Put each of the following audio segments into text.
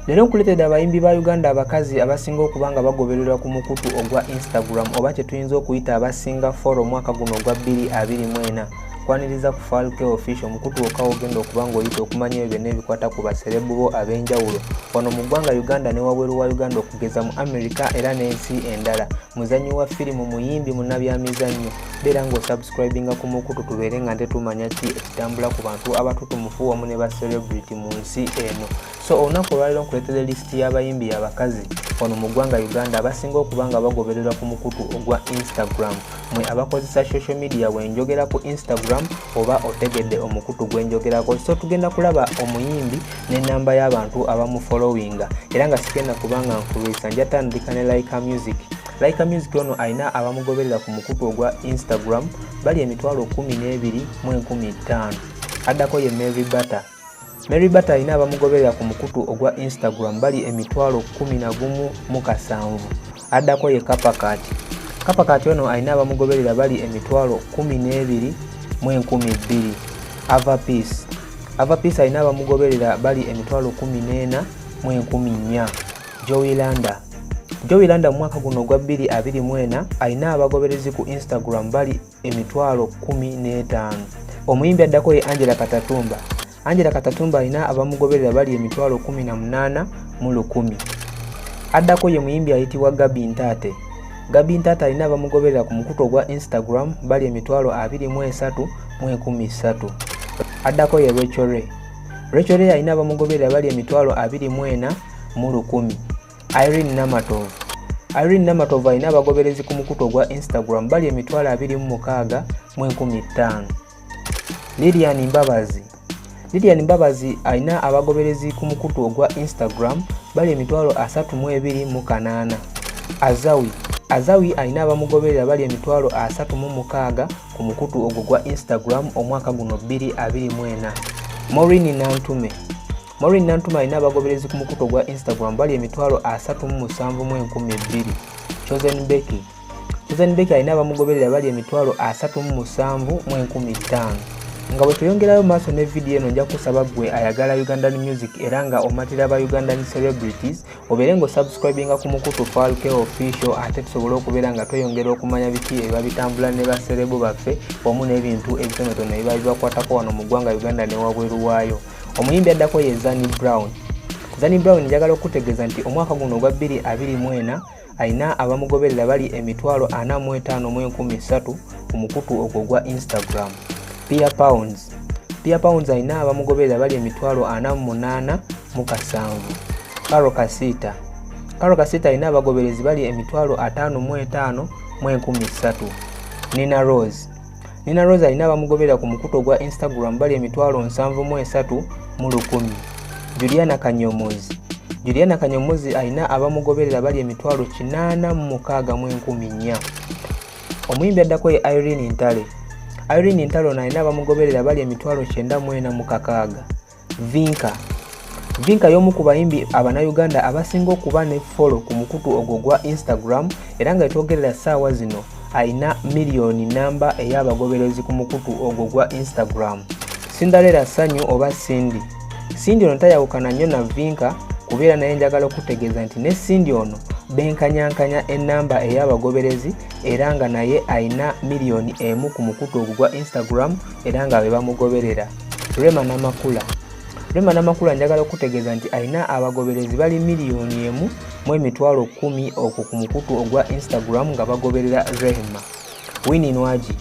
Leero nkuleetedde abayimbi ba Uganda abakazi abasinga okuba nga bagobererwa ku mukutu ogwa Instagram oba kye tuyinza okuyita abasinga folo omwaka guno ogwa 2024. Kwaniriza ku Falke Official omukutu wokka wogenda okuba ng'oyita okumanya ebyo byonna ebikwata ku baserebu bo ab'enjawulo wano mu ggwanga Uganda ne wabweru wa Uganda okugeza mu Amerika era n'ensi endala. Muzannyi wa firimu, muyimbi, munnabyamizannyo. Beera ng'osubscribinga ku mukutu tubeere nga nte tumanya ki ekitambula ku bantu abatutumufu wamu ne ba celebrity mu nsi eno. So olunaku olwaliro nkuletera lisiti y'abayimbi y'abakazi wano mu ggwanga Uganda abasinga okuba nga bagobererwa ku mukutu ogwa Instagram mwe abakozesa social media wenjogera ku Instagram oba otegedde omukutu gwenjogerako so tugenda kulaba omuyimbi n'ennamba y'abantu abamufolowinga era nga sigenda kubanga nkulwisa njatandika ne Laika Music Laika Music ono alina abamugoberera ku mukutu ogwa Instagram bali emitwalo 12 mu 15 addako ye Mary Butter Mary Bata alina abamugoberera ku mukutu ogwa Instagram bali emitwalo kumi na gumu mu kasanvu. Addako ye Kapakaati. Kapakaati ono alina abamugoberera bali emitwalo kumi n'ebiri mu enkumi bbiri. Ava Peace. Ava Peace alina abamugoberera bali emitwalo kumi n'ena mu enkumi nnya. Joey Landa. Joey Landa mu mwaka guno ogwa bbiri abiri mu ena alina abagoberezi ku Instagram bali emitwalo kumi n'etaano omuyimbi addako ye angela katatumba angela katatumba alina abamugoberera bali emitwalo kumi na munaana mu lukumi addako ye muyimbi ayitibwa gabi ntaate gabi ntaate alina abamugoberera ku mukutu ogwa instagram bali emitwalo abiri mu esatu mu enkumi ssatu addako ye rachel ray rachel ray alina abamugoberera bali emitwalo abiri mu ena mu lukumi Irene Namatovu Irene Namatovu alina abagoberezi ku mukutu ogwa Instagram bali emitwalo abiri mu mukaaga mu enkumi ttaano. Lilian Mbabazi Lilian Mbabazi alina abagoberezi ku mukutu ogwa Instagram bali emitwalo asatu mu ebiri mu kanaana. Azawi Azawi alina abamugoberera bali emitwalo asatu mu mukaaga ku mukutu ogwo gwa Instagram omwaka guno bbiri abiri mu ena. Maureen Nantume Maureen Nantuma alina abagoberezi ku mukutu ogwa Instagram bali emitwalo asatu mu musanvu mu enkumi ebbiri. Chosen Becky Chosen Becky alina abamugoberera bali emitwalo asatu mu musanvu mu enkumi ttaano. Nga bwe tuyongerayo maaso ne vidiyo eno nja kusaba ggwe ayagala Ugandan music era nga omatira ba Ugandan celebrities obeere nga osubscribinga ku mukutu Falke official ate tusobole okubeera nga tweyongera okumanya biki ebiba bitambula ne baserebu baffe wamu n'ebintu ebitonotono ebiba bibakwatako wano mu ggwanga Uganda ne wabweru waayo. omuyimbi addako ye zani brown zani brown njagala okukutegeeza nti omwaka guno ogwa 224 alina abamugoberera bali emitwalo 45 ku mukutu ogwo ogwa instagram pia pounds pia pounds alina abamugoberera bali emitwalo 48 mu kasanvu karo kasiita karo kasiita alina abagoberezi bali emitwalo 55 mu 13 nina rose Nina Rose alina abamugoberera ku mukutu ogwa Instagram bali emitwalo nsanvu mu esatu mu lukumi. Juliana Kanyomozi Juliana Kanyomozi alina abamugoberera bali emitwalo kinaana mu mukaaga mu enkumi nnya. Omuyimbi addako ye Irene Ntale. Irene Ntale ono alina abamugoberera bali emitwalo kyenda mu ena mu kakaaga. Vinka Vinka y'omu ku bayimbi Abanayuganda abasinga okuba ne folo ku mukutu ogwo gwa Instagram era nga etwogerera ssaawa zino alina miliyoni namba ey'abagoberezi ku mukutu ogwo gwa Instagram. Cinderella Sanyu oba Cindy Cindy ono tayawukana nnyo na Vinka kubeera naye njagala okutegeeza nti ne Cindy ono benkanyankanya ennamba ey'abagoberezi era nga naye alina miliyoni emu ku mukutu ogwo gwa Instagram era nga be bamugoberera. Rema Namakula Rema Namakula njagala okutegeeza nti alina abagoberezi bali miliyoni emu mu emitwalo kkumi okwo ku mukutu ogwa Instagram nga bagoberera Rehema. Winnie Nwagi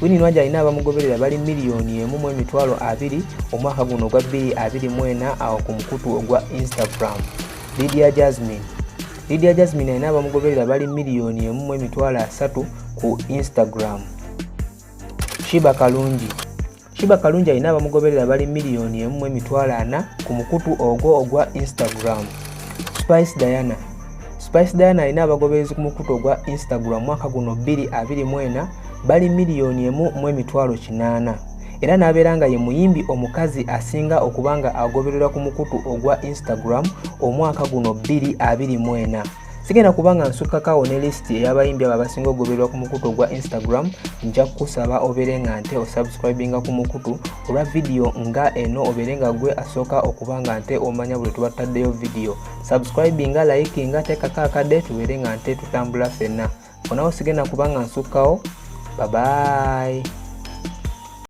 Winnie Nwagi alina abamugoberera bali miliyoni emu mu emitwalo abiri omwaka guno ogwa bbiri abiri mu ena awo ku mukutu ogwa Instagram. Lydia Jasmine Lydia Jasmine alina abamugoberera bali miliyoni emu mu emitwalo asatu ku Instagram. Shiba Kalungi Shiba Kalungi alina abamugoberera bali miliyoni emu mu emitwalo ana ku mukutu ogwo ogwa Instagram. Spice Diana Spice Diana alina abagoberezi ku mukutu ogwa Instagram mwaka guno 2024 bali miliyoni emu mu emitwalo kinaana era n'abeera nga ye muyimbi omukazi asinga okuba nga agobererwa ku mukutu ogwa Instagram omwaka guno 2024. sigenda kuba nga nsukkakaawo ne lisiti ey'abayimbi abo abasinga okugobererwa ku mukutu ogwa instagram nja kukusaba obeere nga nte osubscribinga ku mukutu olwa vidiyo nga eno obeere nga gwe asooka okuba nga nte omanya buli tuba tutaddeyo vidiyo subscribinga likinga teekako akadde tubeere nga nte tutambula fenna onawo sigenda kuba nga nsukkawo babayi